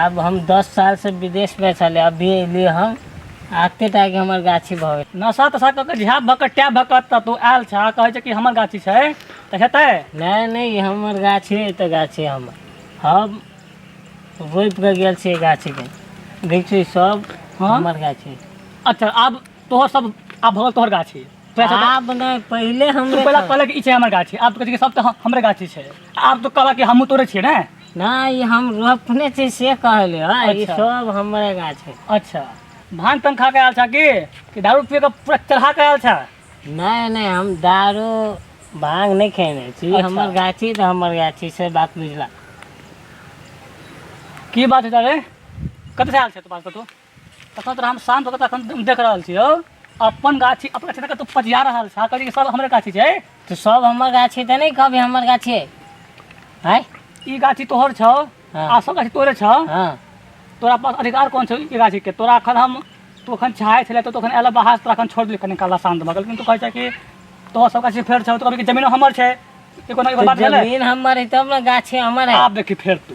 आब हम दस साल से विदेश में छले अभी एलिये हम आते टा के हमर गाछी भऽ गेल नशा तशा कऽ के झ्याप भऽ कऽ टैप भऽ कऽ तऽ तू आयल छह आ कहै छै कि हमर गाछी छै तऽ हेतै नहि नहि ई हमर गाछी है तऽ गाछी हमर हम रोपि कऽ गेल छियै गाछी के देख छी सब हँ? हमर गाछी अच्छा आब तोहर सब आब भऽ गेल तोहर गाछी तोरा सब- आब नहि पहिले तू हमरे पहिले कहलक कि ई छै हमर गाछी आब तू कहै छै कि सब तऽ हम- हमरे गाछी छै आब तू कहलक कि हमहूँ तोरे छियै ने नहि ई हम रोपने छी से कहले ह ई अच्छा। सब हमरे गाछ है अच्छा भांग तंग खा के आयल छा की कि दारू पी के पूरा चढ़ा के आयल छा नहि नहि हम दारू भांग नहि खेने छी अच्छा। हमर गाछी तऽ हमर गाछी से बात बुझला की बात है तारे कत से आयल छे तू पास तू तखन तोरा हम शांत होकर तखन हम देख रहल छियौ अपन गाछी अपन गाछी तक तू पजिया रहल छा कहली कि सब हमरे गाछी छै तो सब हमर गाछी तऽ नहि कहबी हमर गाछी है आय ई गाछी तोहर छौ हाँ। आ सब गाछी तोरे छौ हँ तोरा पास अधिकार कोन छौ ई गाछी के तोरा अखन हम तू अखन चाहे छले तो अखन एला बाहर तोरा अखन छोड़ दिल कनी काला शांत भऽ गेल लेकिन तू कहै छै कि तोहर सब गाछी फेर छौ तो कहबी कि जमीनो हमर छै ई कोनो एगो तो बात भेलै जमीन हमर है तब ने गाछी हमर है आब देखी फेर तू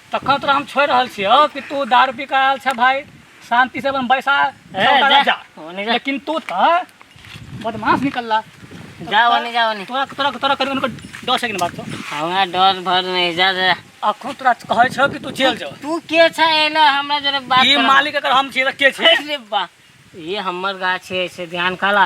तखन तोरा हम छोड़ रहल छियो कि तू दारू पी कर आयल छ भाई शांति से अपन बैसा ए, चौका जा। लग जा ओने जा। लेकिन तू त बदमाश निकलला जा ओने जा ओने तोरा तोरा तोरा करी उनको डर से बात तो हमरा डर भर नहीं जा जा अखन तोरा कहै छौ कि तू जेल जाओ तू के छ एला हमरा जरे बात ई करऽ। मालिक अगर हम छियै त के छै अरे बा ये हमर गाछ है से ध्यान काला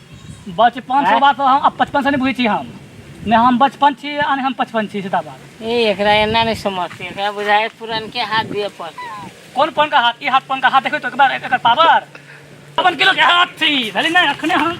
बचपन बात तो हम बचपन से नहीं बुझे छी हम ने हम बचपन छी आ हम बचपन छी सीधा बात ए एकरा एना नहीं समझती एकरा बुझाए पुरान के हाथ दिए पड़ते कौन पन का हाथ ई हाथ पन का हाथ देखो तो एक बार एकर पावर अपन किलो के हाथ छी भले नहीं अखने हम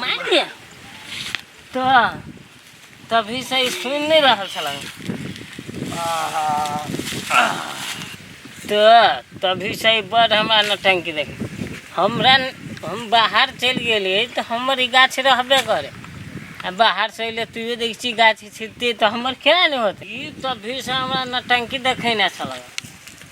मारि दिअ तऽ तभी से ई सुनि नहि रहल छलन तऽ तभी से ई बड़ हमरा नौटंकी देख हमरा न- हम बाहर चलि गेलियै तऽ हमर ई गाछ रहबे करे आ बाहर से अयले तूहे देखै छी गाछ छिलते तऽ हमर क्या नहि होतै ई तभी से हमरा नौटंकी देखेने छलन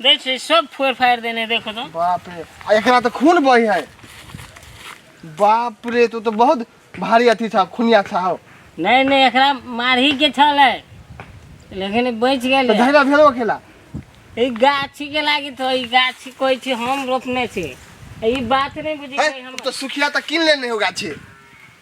देख से सब फोड़ फाड़ देने देखो तो बाप रे आ एकरा तो खून बही है बाप रे तू तो बहुत भारी अथी था खुनिया था हो नहीं नहीं एकरा मारही के छल है लेकिन ई बच तो गेल धैला भेलो खेला ई गाछी के लागी तो ई गाछी कोई छी हम रोपने छी ई बात नहीं बुझी है, कोई हम अब तो सुखिया तो किन लेने होगा छे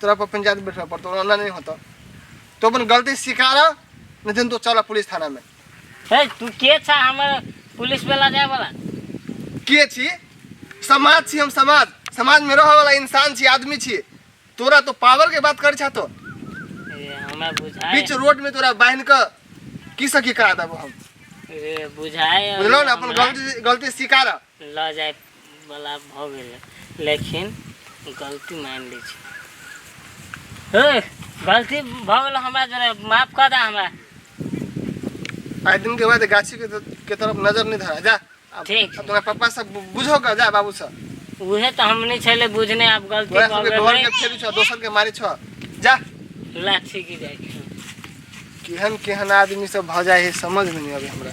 तोरा पर पंचायत बैठा पड़तो ओना नहीं होता तो अपन गलती स्वीकारा नहीं दिन तो चला पुलिस थाना में हे तू के छा हमर पुलिस वाला जाए वाला के छी समाज छी हम समाज समाज में रहे वाला इंसान छी आदमी छी तोरा तो पावर के बात करे छा तो ए, हमरा बुझाए बीच रोड में तोरा बांध के की सकी करा देबो हम ए, बुझाए बुझलो ना अपन हमरा। गलती गलती स्वीकारा ल जाय बला भ गेलै लेकिन गलती मान लै छी हे गलती भ गेल हमरा जरा माफ कर दा हमरा आइ दिन के बाद गाछी के, के तरफ नजर नहीं धरा जा अब, ठीक। अब तुम्हारे पापा सब बु- बुझो का जा बाबू सब उहे तो हमनी छले बुझने अब गलती तोरा भ सबके घर गेलै के फेरू छ दोसर के मारी छ जा ला ठीक ही जाय छी। केहन केहन आदमी सब भ जाए है समझ में नहीं आवे हमरा